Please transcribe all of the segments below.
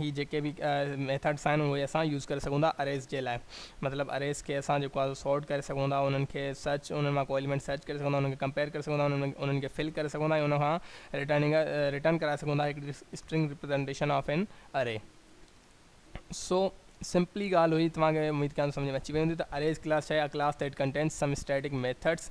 هي جيڪي به ميٿڊس آهن اهي اسان يوز ڪري سگهون ٿا اريز جي لاء مطلب اريز کي اسان جيڪو آهي سارٽ ڪري سگهون ٿا انهن کي سرچ انهن مان ڪو ايليمينٽ سرچ ڪري سگهون ٿا انهن کي ڪمپيئر ڪري سگهون ٿا انهن کي فل ڪري سگهون ٿا ۽ ان کان رٽرننگ رٽرن ڪرائي سگهون ٿا هڪڙي اسٽرنگ ريپريزنٽيشن آف اين اري سو سمپلي ڳالهه هئي توهان کي اميد ڪيان ٿو سمجهه ۾ اچي وئي هوندي ته اريز ڪلاس ڇا آهي uh class that contains some static methods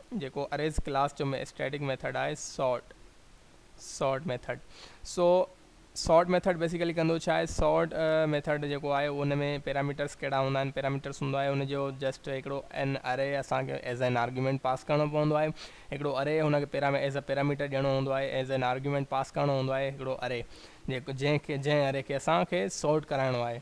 جيڪو اريز ڪلاس جو اسٽيٽڪ ميٿڊ آهي سارٽ سارٽ ميٿڊ سو سارٽ ميٿڊ بيسيڪلي ڪندو ڇا آهي سارٽ ميٿڊ جيڪو آهي ان ۾ پيراميٽرس ڪهڙا هوندا آهن پيراميٽرس هوندو آهي ان جو جسٽ هڪڙو ان اري اسان کي ايز اين آرگيومينٽ پاس ڪرڻو پوندو آهي هڪڙو اري هن کي پيرا ايز ا پيراميٽر ڏيڻو هوندو آهي ايز اين آرگيومينٽ پاس ڪرڻو هوندو آهي هڪڙو اري جنهن کي جنهن اري کي اسان کي سارٽ ڪرائڻو آهي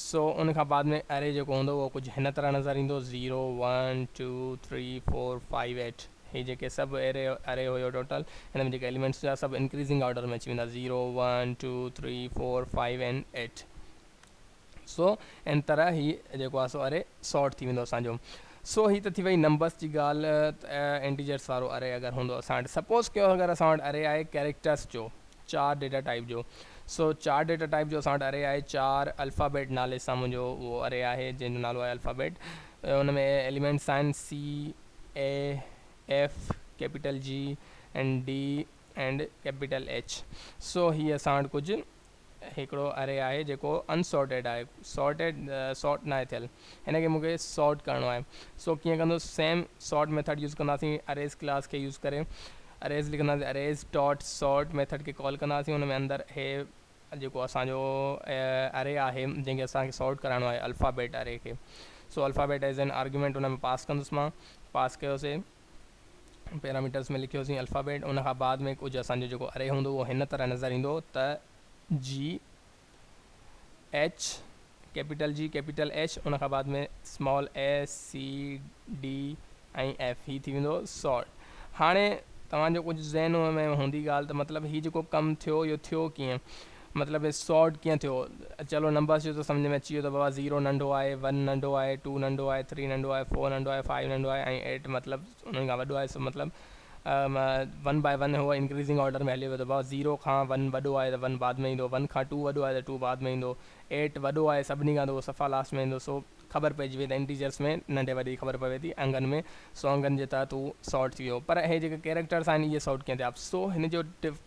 سو ان کان بعد ۾ اري جيڪو هوندو اهو ڪجهه هن طرح نظر ايندو zero one two three four five eight هي جيڪي سڀ اري اري هيو ٽوٽل هن ۾ جيڪي اليمينٽس هيا سڀ انڪريزنگ آرڊر ۾ اچي ويندا zero one two three four five and eight سو ان طرح هي جيڪو آهي سو اري سارٽ ٿي ويندو اسان جو سو هي ته ٿي وئي نمبرس جي ڳالهه انٽيجرس وارو اري اگر هوندو اسان وٽ سپوز ڪيو اگر اسان وٽ اري آهي ڪيريڪٽرس جو چار ڊيٽا ٽائيپ جو سو چار ڊيٽا ٽائيپ جو اسان وٽ اري آهي چار الفابيٽ نالي سان منهنجو اهو اري آهي جنهن جو نالو آهي الفابيٽ ان ۾ ايليمينٽس آهن C A F capital G and D and capital H سو هي اسان وٽ ڪجهه هڪڙو اري آهي جيڪو انسارٽيڊ آهي سارٽيڊ سارٽ ناهي ٿيل هن کي مونکي سارٽ ڪرڻو آهي سو ڪيئن ڪندو سيم سارٽ ميٿڊ يوز ڪنداسين اريز ڪلاس کي يوز ڪري اريز لکنداسين اريز ڊاٽ سارٽ ميٿڊ کي ڪال ڪنداسين ان ۾ اندر هي جيڪو اسان جو اري آهي جنهن کي اسان کي سارٽ ڪرائڻو آهي الفابيٽ اري کي سو الفابيٽ ايز ان آرگيومينٽ ان ۾ پاس ڪندس مان پاس ڪيوسين پيراميٽرس ۾ لکيوسين الفابيٽ ان کان بعد ۾ ڪجهه اسان جو جيڪو اري هوندو اهو هن طرح نظر ايندو ته G H, capital G, capital H, ان کان بعد ۾ small A, C, D ۽ F, هي ٿي ويندو سارٽ. هاڻي توهان جو ڪجهه ذهن ۾ هوندي ڳالهه ته مطلب هي جيڪو ڪم ٿيو اهو ٿيو ڪيئن؟ مطلب هي سارٽ ڪيئن ٿيو؟ چلو نمبرز جو ته سمجهه ۾ اچي ويو ته بابا زيرو ننڍو آهي، ون ننڍو آهي، ٽو ننڍو آهي، ٿري ننڍو آهي، فور ننڍو آهي، فائيو ننڍو آهي ۽ ايٽ مطلب انهن کان وڏو آهي سو مطلب ون باء ون هو انڪريزنگ آرڊر ۾ هليو ويو ته بابا زيرو کان ون وڏو آهي ته ون بعد ۾ ايندو ون کان ٽو وڏو آهي ته ٽو بعد ۾ ايندو ايٽ وڏو آهي سڀني کان ته اهو صفا لاسٽ ۾ ايندو سو خبر پئجي وئي ته انٽيجرس ۾ ننڍي وڏي جي خبر پوي ٿي انگن ۾ سو انگن جي تحت هو سارٽ ٿي ويو پر هي جيڪي ڪيريڪٽرس آهن اهي سارٽ ڪيئن ٿيا سو هن جو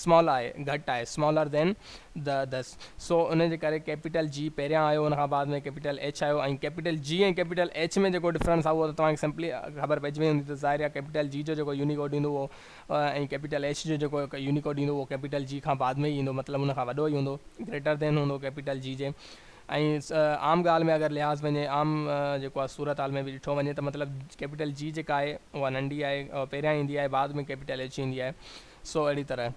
Small i گهٽ آهي Smaller than the others سو ان جي ڪري ڪيپيٽل G پهريان آيو ان کان بعد ۾ ڪيپيٽل H آيو ۽ ڪيپيٽل G ۽ ڪيپيٽل H ۾ جيڪو ڊفرنس آهي اهو ته توهان کي سمپلي خبر پئجي وئي هوندي ته ظاهر آهي ڪيپيٽل G جو جيڪو يونيڪوڊ ايندو اهو ۽ ڪيپيٽل H جو جيڪو يونيڪوڊ ايندو اهو ڪيپيٽل G کان بعد ۾ ئي ايندو مطلب ان کان وڏو ئي هوندو Greater than هوندو ڪيپيٽل G جي ۽ عام ڳالهه ۾ اگر لحاظ پنهنجي عام جيڪو آهي صورت حال ۾ به ڏٺو وڃي ته مطلب ڪيپيٽل G جيڪا آهي اها ننڍي آهي پهريان ايندي آهي بعد ۾ ڪيپيٽل H ايندي آهي سو اهڙي طرح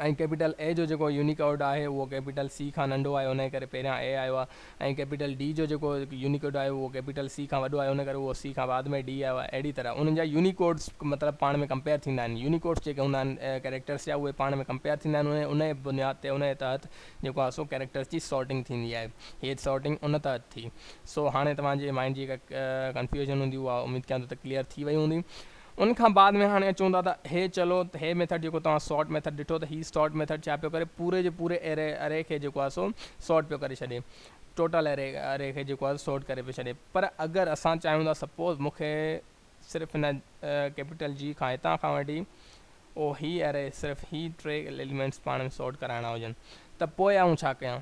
۽ ڪيپيٽل اي جو جيڪو يونيڪوڊ آهي اهو ڪيپيٽل سي کان ننڍو آهي انهيء ڪري پهريان اي آيو آهي ۽ ڪيپيٽل ڊي جو جيڪو يونيڪوڊ آهي اهو ڪيپيٽل سي کان وڏو آهي انهيء ڪري اهو سي کان بعد ۾ ڊي آيو آهي اهڙي طرح انهن جا يونيڪوڊس مطلب پاڻ ۾ ڪمپيئر ٿيندا آهن يونيڪوڊس جيڪي هوندا آهن ڪيريڪٽرس جا اهي پاڻ ۾ ڪمپيئر ٿيندا آهن ۽ انهيء بنياد تي انهيء تحت جيڪو آهي سو ڪيريڪٽرس جي سارٽنگ ٿيندي آهي هيء سارٽنگ ان تحت ٿي سو هاڻي توهان جي مائنڊ جي ڪا ڪنفيوزن هوندي اها اميد ڪيان ٿو ته ڪليئر ٿي وئي هوندي ان کان بعد ۾ هاڻي اچون ٿا ته هي چلو ته هي ميٿڊ جيڪو توهان سارٽ ميٿڊ ڏٺو ته هي سارٽ ميٿڊ ڇا پيو ڪري پوري جي پوري اري اري کي جيڪو آهي سو سارٽ پيو ڪري ڇڏي ٽوٽل اري اري کي جيڪو آهي سارٽ ڪري پيو ڇڏي پر اگر اسان چاهيون ٿا سپوز مون کي صرف هن ڪيپيٽل جي کان هتان کان وٺي او هي اري صرف هي ٽي ايليمينٽس پاڻ ۾ سارٽ ڪرائڻا هجن ته پوء آئون ڇا ڪيان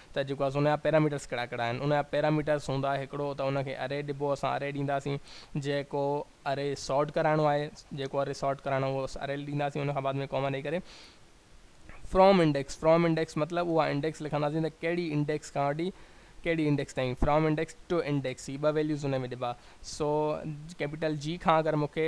ته جيڪو آهي سو ان جا پيراميٽرس ڪهڙا ڪهڙا آهن ان جا پيراميٽرس هوندا هڪڙو ته ان کي اري ڏبو اسان اري ڏينداسين جيڪو اري سارٽ ڪرائڻو آهي جيڪو اري سارٽ ڪرائڻو اهو اسان اري ڏينداسين ان کان بعد ۾ ڪوما ڏئي ڪري فرام انڊيڪس فرام انڊيڪس مطلب اها انڊيڪس لکنداسين ته ڪهڙي انڊيڪس کان وٺي ڪهڙي انڊيڪس تائين فرام انڊيڪس ٽو انڊيڪس هي ٻه ويليوز ان ۾ ڏبا سو ڪيپيٽل جي کان اگر مونکي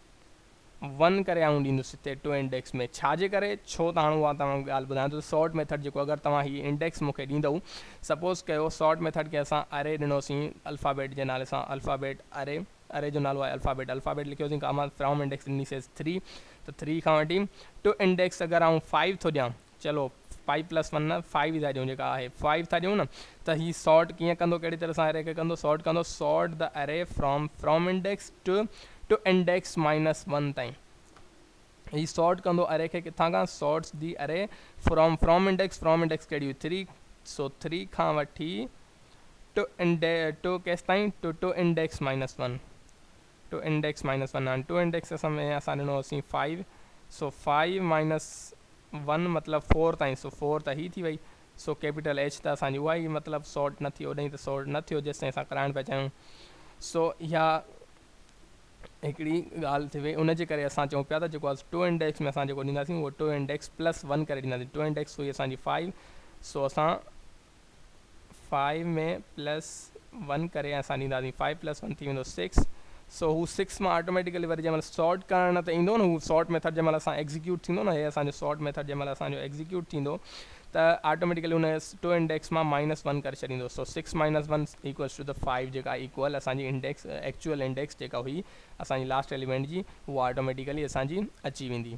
ون ڪري آئون ڏيندس هتي ٽو انڊيڪس ۾ ڇا جي ڪري ڇو ته هاڻ اها توهان کي ڳالهه ٻڌايان ٿو ته سارٽ ميٿڊ جيڪو اگر توهان هي انڊيڪس مون کي ڏيندئو سپوز ڪيو سارٽ ميٿڊ کي اسان اري ڏنوسين الفابيٽ جي نالي سان الفابيٽ اري اري جو نالو آهي الفابيٽ الفابيٽ لکيوسين ڪاما فرام انڊيڪس ڏنيسيس 3 ته 3 کان وٺي ٽو انڊيڪس اگر آئون 5 ٿو ڏيان چلو پائي پلس ون نه فائيو ئي ٿا ڏيون جيڪا آهي فائيو ٿا ڏيون نه ته هي سارٽ ڪيئن ڪندو ڪهڙي طرح سان اري کي ڪندو سارٽ ڪندو sort the array from from index to to index minus one تائين هي سارٽ ڪندو اري کي ڪٿان کان sorts the array from from index from index ڪهڙي هئي ٿري سو ٿري کان وٺي ٽو انڊي ٽو ڪيس تائين to to index minus one to index minus one آهن ٽو انڊيڪس اسان ۾ اسان ڏنو هوسين فائيو سو فائيو مائنس ون مطلب فور تائين سو فور ته هي ٿي وئي سو ڪيپيٽل ايچ ته اسان جي اها ئي مطلب سارٽ نه ٿي اوڏانهين ته سارٽ نه ٿيو جيستائين اسان ڪرائڻ پيا چاهيون سو اها هڪڙي ڳالهه ٿي وئي ان جي ڪري اسان چئون پيا ته جيڪو اسان ٽو انڊيڪس ۾ اسان جيڪو ڏينداسين اهو ٽو انڊيڪس پلس ون ڪري ڏينداسين ٽو انڊيڪس هئي اسان جي فائيو سو اسان فائيو ۾ پلس ون ڪري ۽ اسان ڏينداسين فائيو پلس ون ٿي ويندو سڪس سو هو سڪس مان آٽوميٽيڪلي وري جنهن مهل سارٽ ڪرڻ نه ته ايندو نه هو سارٽ ميٿڊ جنهن مهل اسان ايگزيڪيوٽ ٿيندو نه هي اسان جو سارٽ ميٿڊ جنهن مهل اسان جو ايگزيڪيوٽ ٿيندو ته آٽوميٽيڪلي ان ٽو انڊيڪس مان مائنس ون ڪري ڇڏيندو سو six minus one equals to ته فائيو جيڪا ايڪول اسان جي انڊيڪس ايڪچوئل انڊيڪس جيڪا هئي اسان جي لاسٽ ايليمينٽ جي هو آٽوميٽيڪلي اسان جي اچي ويندي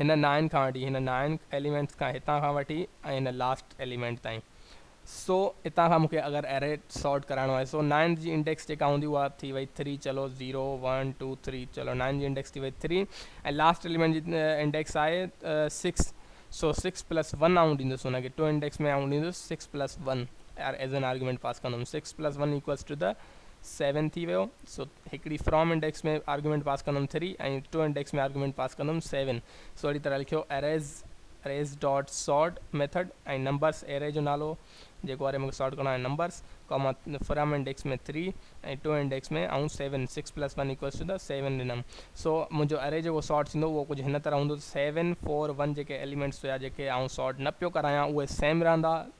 هن نائن کان وٺي هن نائن ايليمينٽس کان هتان کان وٺي ۽ هن لاسٽ ايليمينٽ تائين سو هتان کان مونکي اگر اري سارٽ ڪرائڻو آهي سو نائن جي انڊيڪس جيڪا هوندي اها ٿي وئي ٿري چلو زيرو ون ٽو ٿري چلو نائن جي انڊيڪس ٿي وئي ٿري ۽ لاسٽ ايليمينٽ جي انڊيڪس آهي سڪس سو سڪس پلس ون آئون ڏيندس هن کي ٽو انڊيڪس ۾ آئون ڏيندس six plus one as an argument pass ڪندم six plus one equals to the seven ٿي ويو سو هڪڙي فرام انڊيڪس ۾ آرگيومينٽ پاس ڪندم three ۽ to index ۾ argument pass ڪندم سيون سو اهڙي طرح لکيو arrays arrays dot sort method ۽ numbers array جو نالو جيڪو اري مونکي سارٽ ڪرڻو آهي numbers comma from index ۾ three ۽ to index ۾ آئون seven six plus one equals to seven ڏنم سو منهنجو اري جيڪو سارٽ ٿيندو اهو ڪجهه هن طرح هوندو سيون فور ون جيڪي ايليمينٽس هيا جيڪي آئون سارٽ نه پيو ڪرايان اهي سيم رهندا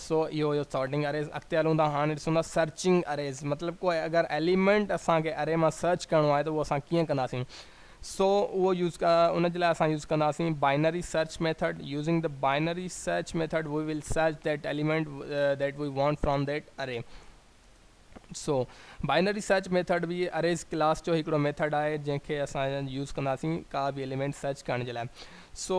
سو اهو هيو سارٽنگ اريز. اڳتي هلون ٿا هاڻي ڏسون ٿا سرچنگ اريز مطلب ڪو اگر ايليمينٽ اسان کي اري مان سرچ ڪرڻو آهي ته اهو اسان ڪيئن ڪنداسين سو اهو يوز ان جي لاء اسان يوز ڪنداسين binary search method using the binary search method we will search that element that we want from that array so binary search method به اريز ڪلاس جو هڪڙو ميٿڊ آهي جنهن کي اسان يوز ڪنداسين ڪا به ايليمينٽ سرچ ڪرڻ جي لاء سو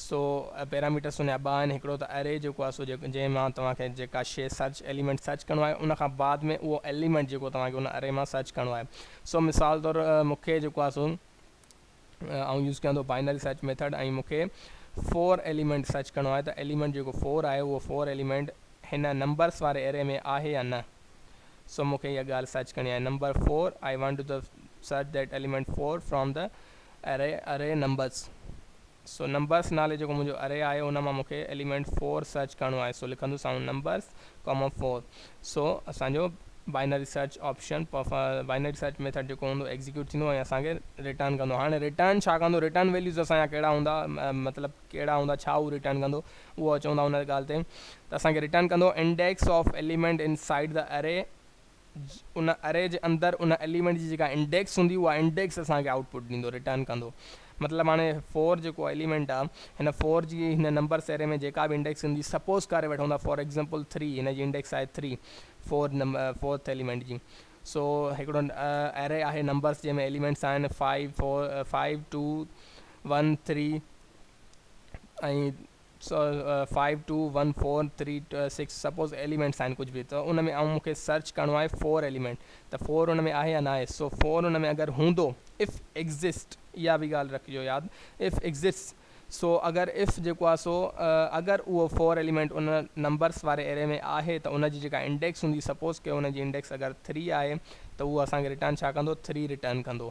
سو پيراميٽر سونهيا ٻه آهن هڪڙو ته اري جيڪو آهي سو جنهن مان توهان کي جيڪا شيء سرچ ايليمينٽ سرچ ڪرڻو آهي ان کان بعد ۾ اهو ايليمينٽ جيڪو توهان کي ان اري مان سرچ ڪرڻو آهي سو مثال طور مون کي جيڪو آهي سو آئون يوز ڪيان ٿو بائنري سرچ ميٿڊ ۽ مون کي فور ايليمينٽ سرچ ڪرڻو آهي ته ايليمينٽ جيڪو فور آهي اهو فور ايليمينٽ هن نمبرس واري اري ۾ آهي يا نه سو مون کي اها ڳالهه سرچ ڪرڻي آهي number four I want to search that element four from the array Array Numbers so numbers نالي جيڪو منهنجو اري آهي ان مان مونکي ايليمينٽ فور سرچ ڪرڻو آهي سو لکندس آئون نمبرس ڪاما فور سو اسان جو binary search option binary search method جيڪو هوندو ايگزيڪيوٽ ٿيندو ۽ اسان کي ريٽرن ڪندو هاڻي ريٽرن ڇا ڪندو ريٽرن ويليوز اسان جا ڪهڙا هوندا مطلب ڪهڙا هوندا ڇا هو ريٽرن ڪندو اهو اچون ٿا ان ڳالهه تي ته اسان کي ريٽرن ڪندو index of element inside the array in اري جي اندر ان ايليمينٽ جي جيڪا انڊيڪس هوندي اها انڊيڪس اسان کي آئوٽ پٽ ڏيندو رٽرن ڪندو مطلب هاڻي فور جيڪو ايليمينٽ آ هن فور جي هن نمبرس اري ۾ جيڪا به انڊيڪس هوندي سپوز ڪري وٺون ٿا فار ايگزامپل ٿري هن جي انڊيڪس آهي three four number fourth element جي سو هڪڙو اري آهي نمبرس جنهن ۾ ايليمينٽس آهن five four five two one three ۽ five two one four three six suppose elements آهن ڪجهه به ته ان ۾ آئون مون کي سرچ ڪرڻو آهي فور ايليمينٽ ته فور ان ۾ آهي يا ناهي سو فور ان ۾ اگر هوندو اف ايگزسٽ اها به ڳالهه رکجو ياد اف ايگزسٽس سو اگر اف جيڪو آهي سو اگر اهو فور ايليمينٽ ان نمبرس واري اري ۾ آهي ته ان جي جيڪا انڊيڪس هوندي سپوز ڪيو ان جي انڊيڪس اگر ٿري آهي ته اهو اسان کي رٽرن ڇا ڪندو ٿري رٽرن ڪندو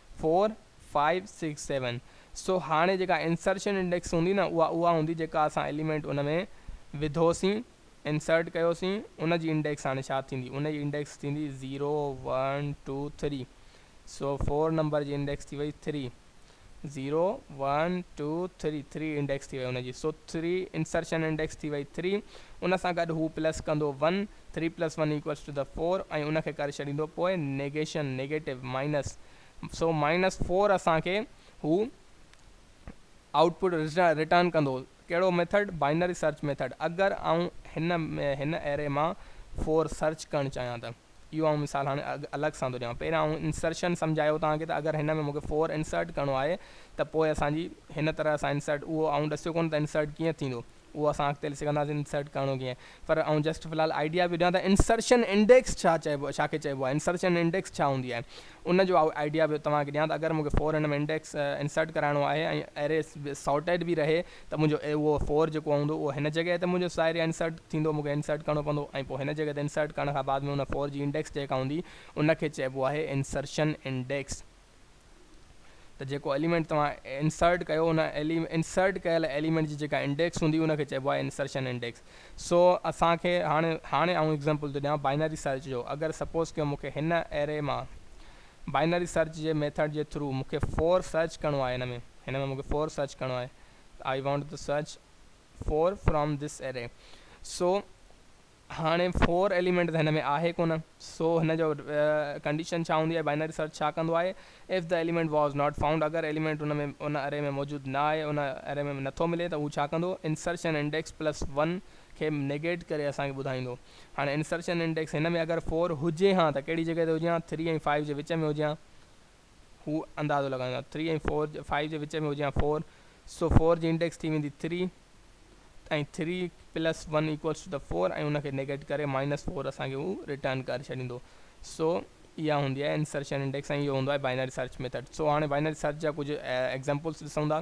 فور فائيو سڪس سيون سو هاڻي جيڪا انسرشن انڊيڪس هوندي نه اها اها هوندي جيڪا اسان ايليمينٽ ان ۾ وڌوسين انسرٽ ڪيوسين ان جي انڊيڪس هاڻي ڇا ٿيندي ان جي انڊيڪس ٿيندي زيرو ون ٽو ٿري سو فور نمبر جي انڊيڪس ٿي وئي three zero one two three three index ٿي وئي ان جي سو ٿري انسرشن انڊيڪس ٿي وئي ٿري ان سان گڏ هو پلس ڪندو one three plus one equals to the four ۽ ان کي ڪري ڇڏيندو پوء نيگيشن نيگيٽو مائنس سو مائنس فور اسان کي هو آئوٽ پٽ رٽرن ڪندو ڪهڙو ميٿڊ بائنري سرچ ميٿڊ اگر آئون هن هن اري مان فور سرچ ڪرڻ چاهيان ته اهو آئون مثال هاڻي الڳ سان ٿو ڏيان پهريان آئون انسرشن سمجهايو توهان کي ته اگر هن ۾ مونکي فور انسرٽ ڪرڻو آهي ته پوء اسان جي هن طرح سان انسرٽ اهو آئون ڏسيو ڪونه ته انسرٽ ڪيئن ٿيندو اهو اسان اڳتي هلي سگهنداسين انسرٽ ڪرڻو ڪيئن پر آئون جسٽ في الحال آئيڊيا پيو ڏيان ته انسرشن انڊيڪس ڇا چئبو ڇا کي چئبو آهي انسرشن انڊيڪس ڇا هوندي آهي ان جو آئيڊيا پيو توهان کي ڏيان ته اگر مون کي فور هن ۾ انڊيڪس انسرٽ ڪرائڻو آهي ۽ اري سارٽيڊ به رهي ته منهنجو اهو فور جيڪو هوندو اهو هن جڳهه تي منهنجو سائر يا انسرٽ ٿيندو مون کي انسرٽ ڪرڻو پوندو ۽ پوء هن جڳهه تي انسرٽ ڪرڻ کان بعد ۾ ان فور جي انڊيڪس جيڪا هوندي ان کي چئبو آهي انسرشن انڊيڪس ته جيڪو ايليمينٽ توهان انسرٽ ڪيو ان انسرٽ ڪيل ايليمينٽ جي جيڪا انڊيڪس هوندي ان کي چئبو آهي انسرشن انڊيڪس سو اسان کي هاڻي هاڻي آئون ايگزامپل ٿو ڏيان باينري سرچ جو اگر سپوز ڪيو مون کي هن اري مان بائنري سرچ جي ميٿڊ جي ٿرو مون کي فور سرچ ڪرڻو آهي هن ۾ هن ۾ مون کي فور سرچ ڪرڻو آهي I want to search four from this array so هاڻي فور ايليمينٽ ته هن ۾ آهي ڪونه سو هن جو ڪنڊيشن ڇا هوندي ۽ بائنري سرچ ڇا ڪندو آهي if the element was not found اگر ايليمينٽ ان ۾ ان اري ۾ موجود نه آهي ان اري ۾ نٿو ملي ته هو ڇا ڪندو انسرشن انڊيڪس پلس ون کي نيگيٽ ڪري اسان کي ٻڌائيندو هاڻي انسرشن انڊيڪس هن ۾ اگر فور هجي هان ته ڪهڙي جڳهه تي هجي هان ٿري ۽ فائيو جي وچ ۾ هجي هان هو اندازو لڳائيندو آهي ٿري ۽ فور فائيو جي وچ ۾ هجي يا فور سو فور جي انڊيڪس ٿي ويندي three ۽ three plus one equals to ته فور ۽ ان کي نيگيٽ ڪري مائنس فور اسان کي هو ريٽرن ڪري ڇڏيندو سو اها هوندي آهي انسرشن انڊيڪس ۽ اهو هوندو آهي بائنري سرچ ميٿڊ سو هاڻي بائنري سرچ جا ڪجهه ايگزامپلس ڏسون ٿا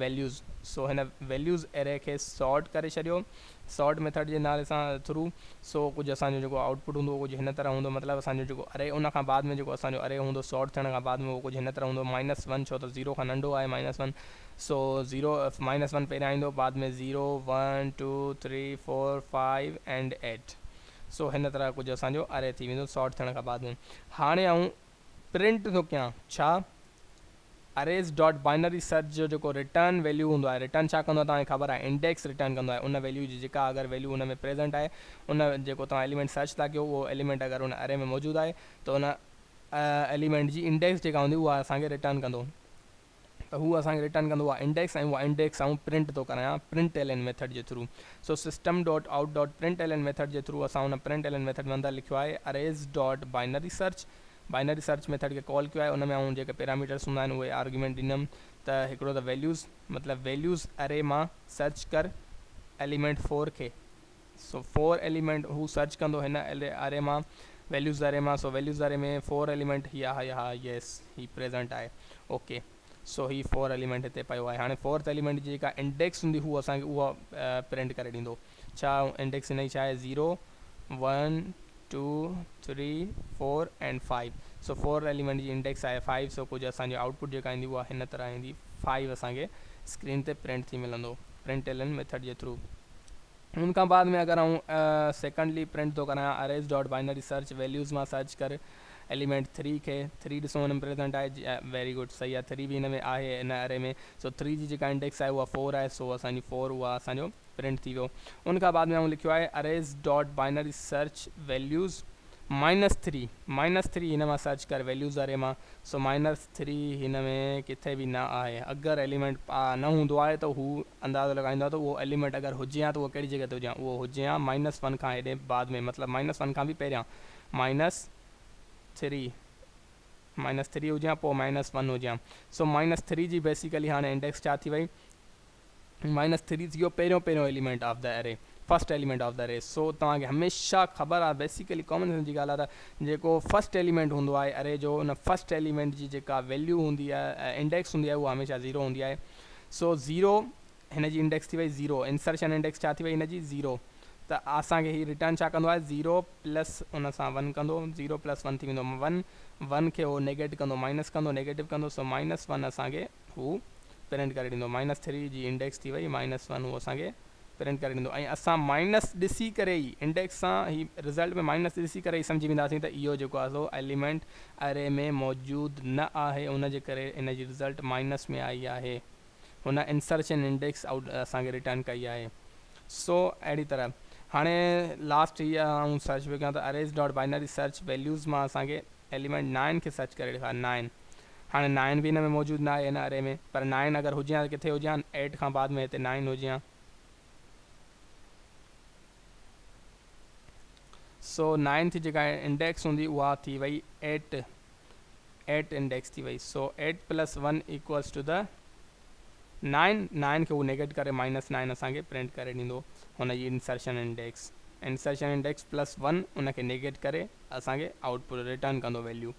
ويليوز سو هن ويليوز اري کي سارٽ ڪري ڇڏيو سارٽ ميٿڊ جي نالي سان ٿرو سو ڪجهه اسان جو جيڪو آئوٽ پٽ هوندو اهو ڪجهه هن طرح هوندو مطلب اسان جو جيڪو اري ان کان بعد ۾ جيڪو اسان جو اري هوندو سارٽ ٿيڻ کان بعد ۾ اهو ڪجهه هن طرح هوندو مائنس ون ڇو ته زيرو کان ننڍو آهي minus one so zero minus one پهريان ايندو بعد ۾ zero one two three four five and eight so هن طرح ڪجهه اسان جو اري ٿي ويندو سارٽ ٿيڻ کان بعد ۾ هاڻي آئون پرنٽ ٿو ڪيان ڇا اريز ڊاٽ بائنري سرچ جو جيڪو رٽرن ويليو هوندو آهي رٽرن ڇا ڪندو آهي توهان کي خبر آهي انڊيڪس رٽرن ڪندو آهي ان ويليو جي جيڪا اگر ويليو ان ۾ پريزنٽ آهي ان جيڪو توهان اليمينٽ سرچ ٿا ڪيو اهو اليمينٽ اگر ان اري ۾ موجود آهي ته ان اليمينٽ جي انڊيڪس جيڪا هوندي اها اسان کي رٽرن ڪندو ته هو اسان کي رٽرن ڪندو اها انڊيڪس ۽ اها انڊيڪس آئون پرنٽ ٿو ڪرايان پرنٽ ايل اين ميٿڊ جي through so system dot out dot print L N method جي ٿرو اسان ان پرنٽ ايل اين ميٿڊ ۾ اندر لکيو آهي arrays dot binary search binary search method کي ڪال ڪيو آهي ان ۾ آئون جيڪي پيراميٽرس هوندا آهن اهي آرگيومينٽ ڏنم ته هڪڙو ته ويليوز مطلب ويليوز اري مان سرچ ڪر ايليمينٽ فور کي سو فور ايليمينٽ هو سرچ ڪندو هن اري مان ويليوز اري مان سو ويليوز اري ۾ فور ايليمينٽ هي آهي ها يس هي پريزنٽ آهي اوڪي سو هي فور ايليمينٽ هتي پيو آهي هاڻي فورٿ ايليمينٽ جي جيڪا انڊيڪس هوندي هو اسان کي اها پرنٽ ڪري ڏيندو ڇا آئون انڊيڪس هن جي ڇا آهي zero one two three four and five so four element جي انڊيڪس آهي فائيو سو ڪجهه اسان جي آئوٽ پٽ جيڪا ايندي اها هن طرح ايندي فائيو اسان کي اسڪرين تي پرنٽ ٿي ملندو پرنٽ ايلن ميٿڊ جي ٿرو ان کان بعد ۾ اگر آئون سيڪنڊلي پرنٽ ٿو ڪرايان arrays dot binary search values مان سرچ ڪر ايليمينٽ ٿري کي ٿري ڏسو هن ۾ پريزنٽ آهي ويري گڊ صحيح آهي ٿري به هن ۾ آهي هن اري ۾ سو ٿري جي جيڪا انڊيڪس آهي اها فور آهي سو اسان جي فور اها اسان جو پرنٽ ٿي ويو ان کان بعد ۾ آئون لکيو آهي Arrays dot binary search values minus three minus three هن مان سرچ ڪر ويليوز اري مان سو مائنس ٿري هن ۾ ڪٿي به نه آهي اگر ايليمينٽ نه هوندو آهي ته هو اندازو لڳائيندو آهي ته اهو ايليمينٽ اگر هجي ها ته اهو ڪهڙي جڳهه تي هجي ها اهو هجي ها مائنس ون کان هيڏي بعد ۾ مطلب مائنس ون کان به پهريان مائنس ٿري مائنس ٿري هجي ها پوء مائنس ون هجي ها سو مائنس ٿري جي بيسيڪلي هاڻي انڊيڪس ڇا ٿي وئي مائنس ٿري ٿيو پهريون پهريون element of the array first element of the array so توهان کي هميشه خبر آهي بيسيڪلي ڪامن سينس جي ڳالهه آهي ته جيڪو فرسٽ ايليمينٽ هوندو آهي اري جو ان فرسٽ ايليمينٽ جي جيڪا ويليو هوندي آهي انڊيڪس هوندي آهي اها هميشه زيرو هوندي آهي سو زيرو هن جي انڊيڪس ٿي وئي زيرو انسرشن انڊيڪس ڇا ٿي وئي هن جي زيرو ته اسان کي هي ريٽرن ڇا ڪندو آهي زيرو پلس ان سان ون ڪندو زيرو پلس ون ٿي ويندو ون ون کي هو نيگيٽ ڪندو مائنس ڪندو نيگيٽو ڪندو سو مائنس ون اسان کي هو پرنٽ ڪري ڏيندو مائنس ٿري جي انڊيڪس ٿي وئي مائنس ون هو اسان کي پرنٽ ڪري ڏيندو ۽ اسان مائنس ڏسي ڪري ئي انڊيڪس سان هي رزلٽ ۾ مائنس ڏسي ڪري ئي سمجهي وينداسين ته اهو جيڪو آهي سو ايليمينٽ اري ۾ موجود نه آهي ان جي ڪري ان جي رزلٽ مائنس ۾ آئي آهي هن انسرشن انڊيڪس آئوٽ اسان کي رٽرن ڪئي آهي سو اهڙي طرح هاڻي لاسٽ هي آئون سرچ پيو ڪيان ته arrays dot binary search values مان اسان کي ايليمينٽ نائن کي سرچ ڪري ڏيکار نائن هاڻي نائن به ان ۾ موجود ناهي ان اري ۾ پر نائن اگر هجي ها ته ڪٿي هجي هان ايٽ کان بعد ۾ هتي نائن هجي هان سو نائنٿ جيڪا انڊيڪس هوندي اها ٿي وئي ايٽ ايٽ انڊيڪس ٿي وئي so eight plus one equals to nine نائن، نائن کي هو نيگيٽ ڪري مائنس نائن اسان کي پرنٽ ڪري ڏيندو هن جي insertion index Insertion Index plus one ان کي نيگيٽ ڪري اسان کي آئوٽ پٽ ريٽرن ڪندو ويليو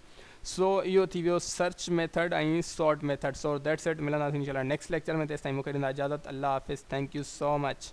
سو اهو ٿي ويو search method ۽ sort method so that's it ملنداسين انشاء الله نيڪسٽ ليڪچر ۾ تيستائين مونکي ڏيندا اجازت الله حافظ ٿينڪ يو سو مچ.